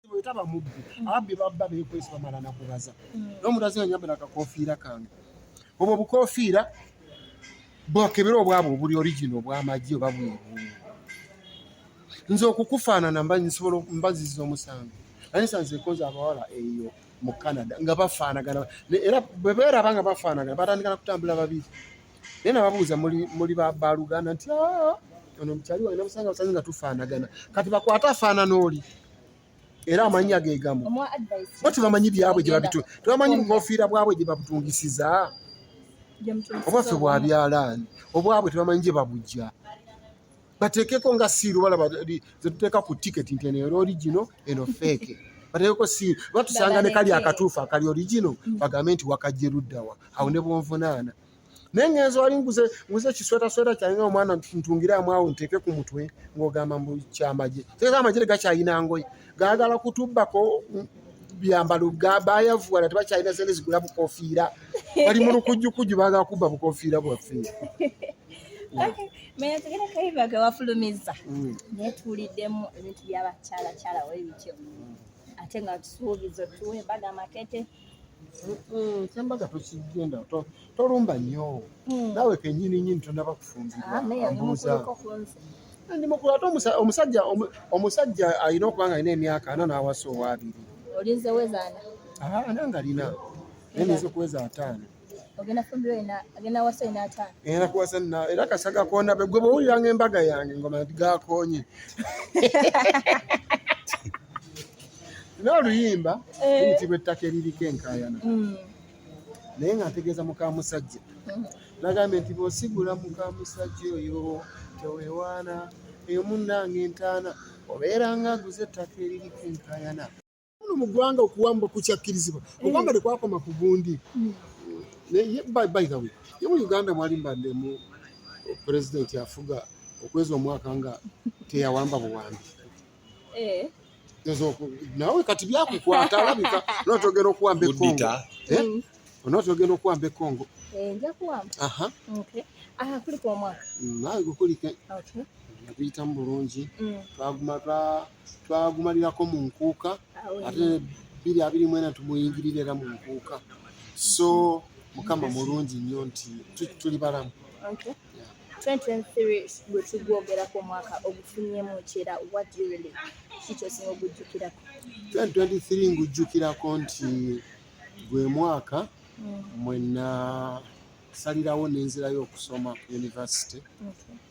bwetaba mubbi mm. ababbi babba bekwesi bamala nakubaza mm. nomuntu azinga nyambala akakofiira kange obwo obukofiira bwakebera obwabwe obuli origina obwamagye oba bwebuu nze okukufaanana mba nsobola mba nziza omusango naye nsanzekonza abawala eyo mu canada nga bafaanagana era bwebeeraba nga bafaanagana batandikana kutambula babiri naye nababuuza muli baluganda nti ah, ono mukyali wange namusanga busanze nga tufaanagana kati bakwate afaanana oli era amannya ge gamu bo tebamanyi byabwe gye babitu tebamanyi bukofiira bwabwe gye babutungisiza obwaffe bwa byalaani obwabwe tebamanyi gye babujja bateekeko nga siiru balaba zetuteeka ku tiketi nti eno era origino eno feeke bateekeko siiru batusanga ne kali akatuufu akali origino bagambe nti wakajje luddawa awo ne bwonvunaana naye ngenzi wali nguze nguze ekiswetasweta kyange nga omwana ntungiramu awo nteeke ku mutwe ng'ogamba mu kyamagye teeka amagye tegakyalina ngoye gaagala kutubbako byambalo bayavuwala tebakyalina sente zigula bukofiira bali mu lukujjukujju baagala kubba bukofiira bwaffe menya tugenda kaibaga wafulumiza mm. naye tuwuliddemu ebintu byabakyalakyala webityo ate nga tusuubiza otuwa embaga amakete kyembaga tokigenda tolumba nnyo hmm. naawe kenyini nyini tonaba kufumbirwandimukulate ah, omusajja omusajja alina okuba nga alina emyaka ana nawasa owaabiri olinze wezaana ah, nange alina naye ninza okuweza ataano ogenda fumbiro ina agenda wasa ina ta era kuwasa na era kasaga kuona be gwe boyo yange mbaga yange ngoma ndiga konye na luyimba eh. nti bwetake lili kenkayana mm. naye nga ntegeeza muka musajja mm. nagambye nti bwosigula muka musajja oyo tewewaana eyo munnange entaana obeera nga aguze ettaka eriri kenkayana muno mu ggwanga okuwamba kukyakkirizibwa eh. okwamba tekwakoma ku gundi hmm. naye by the way ye mu uganda mwali mbaddemu pulezidenti afuga okwezi omwaka nga teyawamba buwambi eh. nawe kati byakukwata alabika notogera okuwamba ekongo eh? hmm. onotogera okuwamba ekongo nawe gukulike naguyitamu bulungi hmm. twaguma twa twagumalirako mu nkuuka ate biri abiri mwena tumuyingirira era mu nkuuka so mukama mulungi nnyo nti tuli balamu okay. yeah. 2023 gwe tugwogerako omwaka ogufunyemu kyera watirili kikyosinga ogujjukirako 2023 ngujjukirako nti gwe mwaka mm. mwena salirawo nenzirayo okusoma ku yunivasite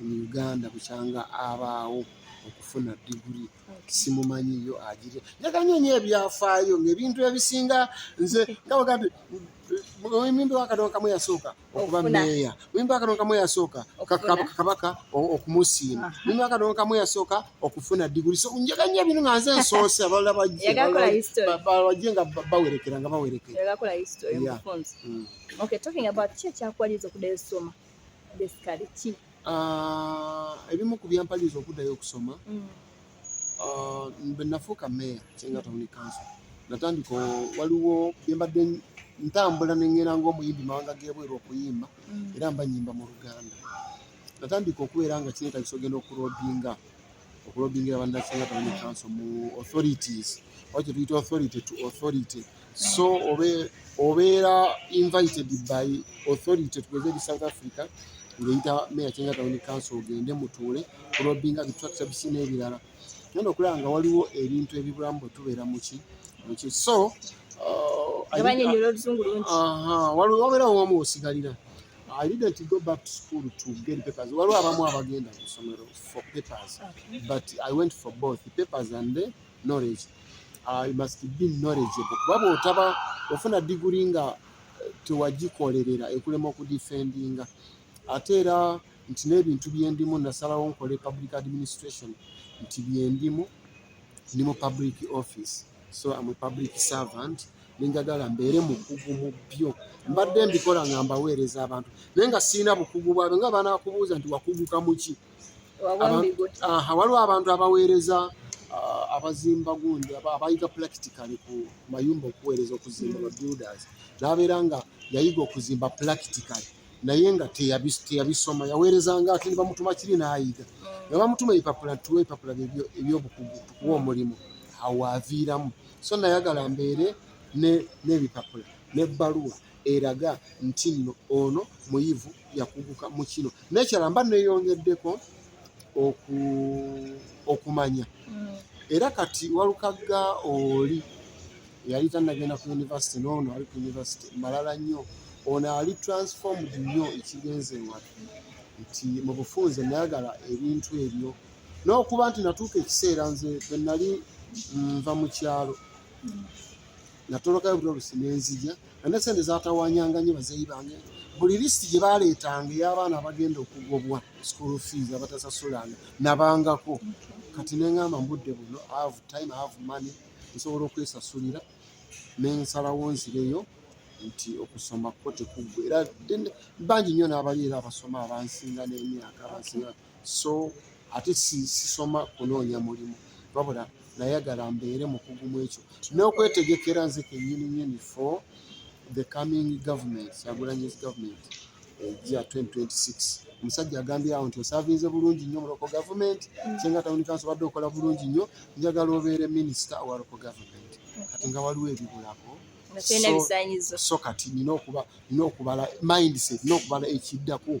mu uganda bukyanga abaawo okufuna diguli simumanyiyo agire njaganya nyo ebyafaayo ngaebintu ebisinga nze ngawagati muyimbi wakatonda kamu yasooka okuba meeya muyimbi wakatonda kamu yasooka kabaka okumusiima muyimbi wakatonda kamu yasooka okufuna diguli so njaga nyo ebintu nga nze nsoose abalala bajje nga bawerekera nga bawerekera Ah, ebimu ku byampaliriza okuddayo okusoma mm. ah, bwe nafuuka meeya kyenga tawuni kanso natandika waliwo byembadde ntambula neŋŋera ng'omuyimbi mawanga g'ebweru okuyimba mm. era mba nyimba mu luganda natandika okubeera nga kineetagisa ogenda okurodinga okulobingira banasinga tawuni council mu authorities oba kyetuyita authority to authority so obeera invited by authority tugeze eri south africa ngeyita meya kyenga tawuni council ogende mutuule kulobinga bitracta bisi n'ebirala nyono okulaba nga waliwo ebintu ebibulamu bwe tubeera muki muki so uh, uh-huh. wabeerawo wamu osigalira I didn't go back to school to get papers. Waliwo abamu abagenda ku ssomero. for papers, okay. but I went for both papers and the knowledge. Uh, you must be knowledgeable. Kuba bw'otaba ofuna diguli nga eh, tewagikolerera ekulema okudifendinga ate era nti n'ebintu byendimu nasalawo nkole public administration nti byendimu ndi mu public office so am a public servant nenjagala mbeere mukugu mu byo mbadde mbikola nga mbaweereza abantu naye nga sirina bukugu bwabyo nga banakubuuza nti wakuguka muki waliwo abantu abaweereza ah, abazimba gundi abayiga practically ku mayumba okuweereza okuzimba ba builders nabeera nga yayiga okuzimba practically naye nga teyabisoma yaweereza nga ati nibamutuma kiri nayiga mm. nebamutuma ebipapula tuwa ebipapula ebyobukugu tukuwa omulimu awo aviiramu so nayagala mbeere n'ebipapula n'ebbaluwa eraga nti nno ono muyivu yakuguka mu kino nekyala mba neyongeddeko okumanya mm. era kati walukagga oli yali tanagenda ku univesity noono ali ku univesity malala nnyo ono ali transformed nnyo ekigenze watu nti mu bufunze nayagala ebintu ebyo n'okuba nti natuuka ekiseera nze bwe nali nva mu kyalo natolokayo buli olusi nenzija ane sente zatawanyanga nyo bazeyi bange buli lisiti gye baleetanga ey'abaana abagenda okugobwa school fees abatasasulanga nabangako kati nengamba mbudde buno have time have money nsobola okwesasulira nensalawo nzireyo nti okusoma kwo tekuggwa era bangi nnyo n'abali era abasoma abansinga n'emyaka abansinga so ate sisoma kunoonya mulimu wabula nayagala mbeere mukugu mu ekyo n'okwetegekera nze kenyini nyini for the coming government yagulanyis government eja 2026 omusajja agambye awo nti osavinze bulungi nnyo muloko government mm. kyenga tawuni kansi obadde okola bulungi nnyo njagala obeere minisita owa loko government kati nga waliwo ebibulako so kati nina okubala mindset nina okubala ekiddako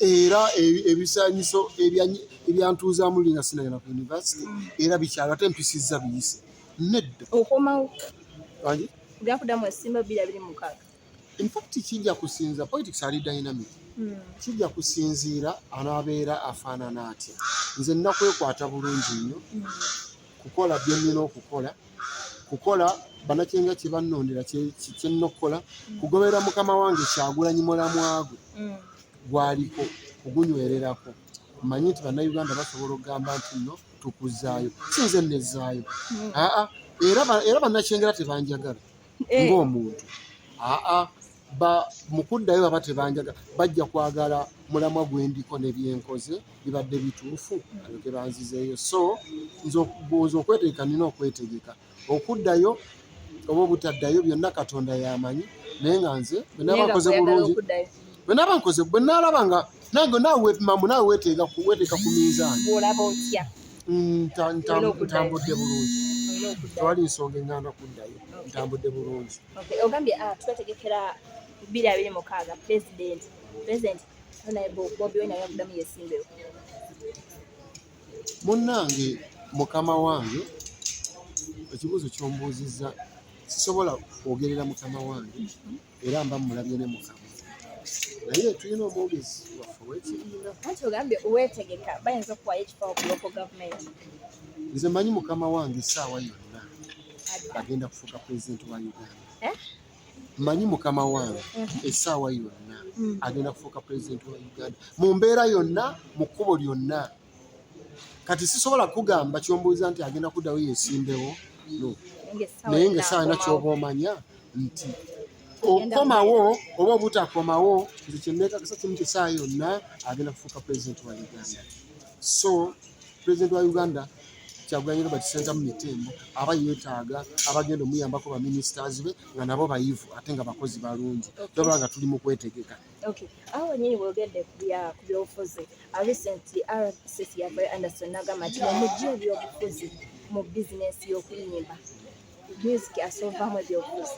era ebisanyiso ebyantuuzaamu linga sinagenda ku yunivasite era bikyalo ate mpisizza biyise nedda okomawo gakudamu esimba bbiri abiri mukaaga infact kijja kusinza politics ali dynamic hmm. kijja kusinziira anaabeera afaanana atya nze nakwekwata bulungi nnyo hmm. kukola bye nnina okukola kukola banakyenga kye bannondera kye nna okukola mm. kugoberera mukama wange kyagulanyi mulamwa gwe mm. gwaliko kugunywererako mmanyi nti bannayuganda basobola okugamba nti nno tukuzaayo si nze nnezzaayo mm. aa era bannakyengera tebanjagala eh. ng'omuntu aa mu kuddayo baba tebanjaga bajja kwagala mulamwa gwe ndiko ne byenkoze bibadde bituufu alyoke banzizeeyo so nze okwetegeka nina okwetegeka okuddayo oba obutaddayo byonna katonda yamanyi naye nga nze bwenabakoze bulungi bwenaba nkoze bwenalaba nga nange naawe mamu naawe weteeka ku minzaani ntambudde bulungi tewali nsonga enganda kuddayo ntambudde bulungi Okay, ogambye uh, twetegekera bbiri abiri mukaaga president president naye bobi wine ayavuddamu yesimbewo munnange mukama wange ekibuuzo kyombuuzizza sisobola kwogerera mukama wange era mba mulabye ne mukama naye tulina omwogezi waffe wekibiina anti ogambye wetegeka bayinza okuwayo ekifawo ku loko gavumenti nze manyi mukama wange esaawa yonna bagenda kufuuka pulezidenti wa uganda eh? manyi mukama wange mhm. esaawa yonna mm. agenda kufuuka pulezidenti wa uganda mu mbeera yonna mu kkubo lyonna kati sisobola kugamba kyombuuza nti agenda kuddawo yesimbewo naye nga esaawa yona kyoba omanya nti okukomawo oba obutakomawo nti kyeneekakasa kimu kyesaawa yonna agenda kufuuka pulezidenti wa uganda so President wa Uganda Kyagulanyi Robert Ssentamu Mitembo aba yeetaaga abagenda omuyambako ba ministers be nga nabo bayivu ate nga bakozi balungi toba nga tuli mu kwetegeka awo wenyini wogedde ku byobufuzi uh, recently rcc yavayo anderson nagamba nti omujja ebyobufuzi mu bizinesi y'okuyimba music asoovamu ebyobufuzi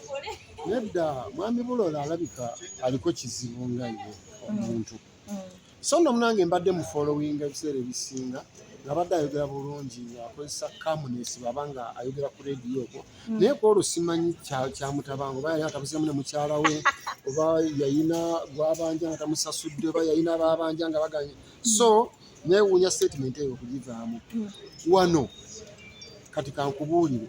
nedda mwami bulola alabika aliko kizibu nga ye omuntu mm. mm. so nno munange mbadde mu following ebiseera ebisinga ngabadde ayogera bulungi akozesa calmness baba nga ayogera ku radio okwo hmm. naye kwolwo simanyi kyamutabango oba yali atabuzemu ne mukyala we oba yayina gwabanja nga tamusasudde oba yayina babanja nga baganye hmm. so newuunya statement eyo okugivaamu hmm. wano kati kankubuulire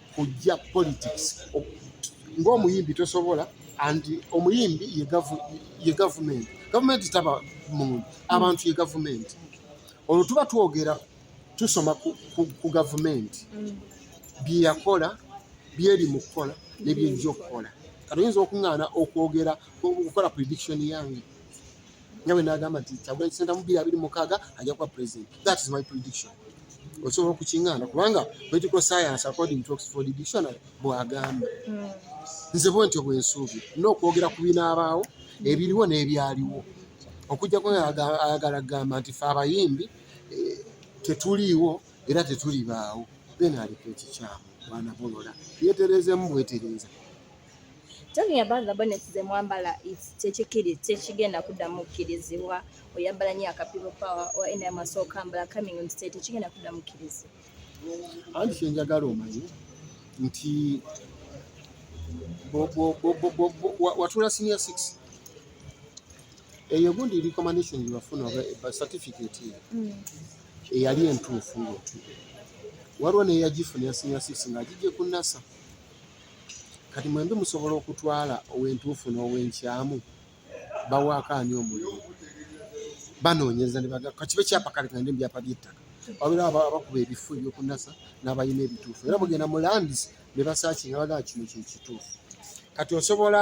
kujja politics ng'omuyimbi tosobola and omuyimbi ye gavumenti gavumenti taba muntu abantu ye gavumenti olwo tuba twogera tusoma ku gavumenti mm. byeyakola byeri mu kukola nebyejja okukola katoyinza okuŋŋaana okwogera okukola prediction yange nyawe nagamba nti kyagulanyi senta mu biri abiri mukaaga ajja kuba president that is my prediction osobola okukingana kubanga political science according to oxford dictionary bwagamba hmm. nze bwe ntyo bwensuubi nina okwogera ku binaabaawo ebiriwo n'ebyaliwo okujjako ayagala kugamba nti fe abayimbi eh, tetuliiwo era tetulibaawo then aliko ekikyamu bwanabolola yetereezemu bwetereeza Talking about the bonnets ze mwambala kyekikiri tekigenda kuddamu kukkirizibwa oyambala nyo aka people power or any amaso okambala coming on state tekigenda kuddamu kukkirizibwa anti kyenjagala omanyi nti watula senior six eyo gundi recommendation gyewafuna oba certificate eyo mm. eyali entuufu ngaotude waliwo neyagifuna ya senior six ngaagijje ku nasa kati mwembi musobola okutwala owentuufu n'owenkyamu bawaako ani omulimu banoonyereza ne baga kakibe kyapa kale kagende mu byapa by'ettaka wabera abakuba ebifo ebyokunasa n'abalina ebituufu era mugenda mu landis ne basaakinga bagaa kino kyekituufu kati osobola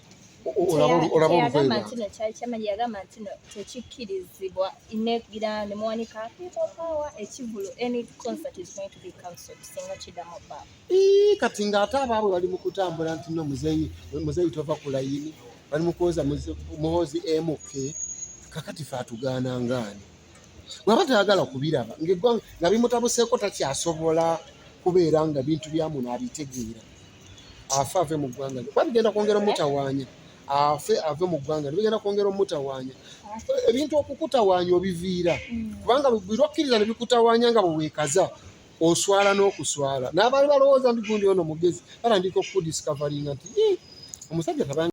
olaba nti no kyali kyamanyi yagamba nti no tekikkirizibwa negira nemuwanika people power ekivulu any concert is going to be cancelled singa kidamu ba kati ng'ate abaabwe bali mu kutambula nti no muzeyi muzeyi tova ku layini bali mu kwoza muhoozi mk kakati fe atugaana ngaani bwaba tayagala kubiraba ngaeggwanga nga bimutabuseeko takyasobola kubeera nga bintu byamuno abitegeera afe ave mu ggwanga kuba bigenda kwongera omutawaanya afe ave mu ggwanga nebigenda kwongera omutawaanya ebintu okukutawaanya obiviira mm. kubanga buli okkiriza nebikutawaanya nga bweweekaza oswala n'okuswala n'abaali balowooza ndi gundi ono mugezi batandika okukudiscavaringa nti omusajja tabanga